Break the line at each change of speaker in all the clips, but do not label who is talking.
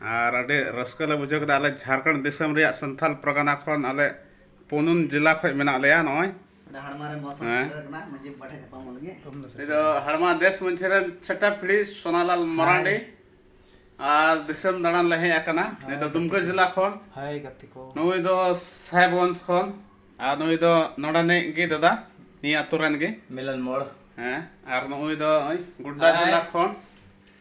ᱟᱨ ᱟᱹᱰᱤ ᱨᱟᱹᱥᱠᱟᱹ ᱞᱮ ᱵᱩᱡᱷᱟᱹᱣ ᱠᱮᱫᱟ ᱟᱞᱮ ᱡᱷᱟᱲᱠᱷᱚᱸᱰ ᱫᱤᱥᱚᱢ ᱨᱮᱭᱟᱜ ᱥᱟᱱᱛᱷᱟᱞ ᱯᱟᱨᱜᱟᱱᱟ ᱠᱷᱚᱱ ᱟᱞᱮ ᱯᱩᱱᱩᱱ ᱡᱮᱞᱟ ᱠᱷᱚᱱ ᱢᱮᱱᱟᱜ ᱞᱮᱭᱟ ᱱᱚᱜᱼᱚᱭ ᱫᱚ ᱦᱟᱲᱢᱟ ᱫᱮᱥ ᱢᱟᱺᱡᱷᱤ ᱨᱮᱱ ᱪᱷᱟᱴᱟ ᱯᱤᱲᱦᱤ ᱥᱳᱱᱟᱞᱟᱞ ᱢᱟᱨᱟᱱᱰᱤ ᱟᱨ ᱫᱤᱥᱚᱢ ᱫᱟᱬᱟᱱ ᱞᱮ ᱦᱮᱡ ᱟᱠᱟᱱᱟ ᱱᱩᱭ ᱫᱚ ᱫᱩᱢᱠᱟᱹ ᱡᱮᱞᱟ ᱠᱷᱚᱱ ᱱᱩᱭ ᱫᱚ ᱥᱟᱦᱮᱵᱽᱜᱚᱸᱡᱽ ᱠᱷᱚᱱ ᱟᱨ ᱱᱩᱭ ᱫᱚ ᱱᱚᱰᱮᱱᱤᱡ ᱜᱮ ᱫᱟᱫᱟ ᱱᱤᱭᱟᱹ ᱟᱹᱛᱩ ᱨᱮᱱ ᱜᱮ ᱢᱤᱞᱚᱱ ᱢᱳᱲ ᱦᱮᱸ ᱟᱨ ᱱᱩᱭ ᱫᱚ ᱜᱳᱰᱰᱟ ᱡᱮᱞᱟ ᱠᱷᱚᱱ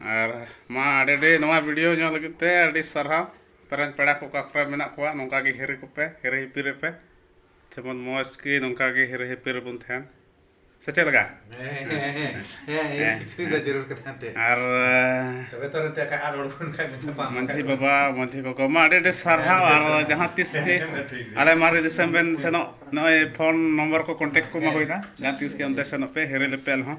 ᱟᱨ ᱢᱟ ᱟᱹᱰᱤ ᱟᱹᱰᱤ ᱱᱚᱣᱟ ᱵᱷᱤᱰᱤᱭᱳ ᱧᱮᱞ ᱞᱟᱹᱜᱤᱫ ᱛᱮ ᱟᱹᱰᱤ ᱥᱟᱨᱦᱟᱣ ᱯᱮᱨᱮᱱ ᱯᱮᱲᱟ ᱠᱚ ᱚᱠᱟ ᱠᱚᱨᱮ ᱢᱮᱱᱟᱜ ᱠᱚᱣᱟ ᱱᱚᱝᱠᱟ ᱜᱮ ᱦᱤᱨᱤ ᱠᱚᱯᱮ ᱦᱤᱨᱤ ᱦᱤᱯᱤᱨᱤ ᱯᱮ ᱡᱮᱢᱚᱱ ᱢᱚᱡᱽ ᱜᱮ ᱱᱚᱝᱠᱟ ᱜᱮ ᱦᱤᱨᱤ ᱦᱤᱯᱤᱨ ᱵᱚᱱ ᱛᱟᱦᱮᱱ ᱥᱮ ᱪᱮᱫ ᱞᱮᱠᱟ ᱟᱨ ᱢᱟᱹᱡᱷᱤ ᱵᱟᱵᱟ ᱢᱟᱹᱡᱷᱤ ᱜᱚᱜᱚ ᱢᱟ ᱟᱹᱰᱤ ᱟᱹᱰᱤ ᱥᱟᱨᱦᱟᱣ ᱟᱨ ᱡᱟᱦᱟᱸ ᱛᱤᱥ ᱜᱮ ᱟᱞᱮ ᱢᱟᱨᱮ ᱫᱤᱥᱚᱢ ᱵᱮᱱ ᱥᱮᱱᱚᱜ ᱱᱚᱜᱼᱚᱭ ᱯᱷᱳᱱ ᱱᱚᱢᱵᱚᱨ ᱠᱚ ᱠᱚᱱᱴᱮᱠᱴ ᱠᱚᱢᱟ ᱦᱩᱭᱱᱟ ᱡᱟᱦᱟᱸ ᱛᱤᱥ ᱜᱮ ᱚᱱᱛᱮ ᱥᱮᱱᱚᱜ ᱯᱮ ᱦᱤᱨᱤ ᱞᱮᱯᱮ ᱟᱞᱮ ᱦᱚᱸ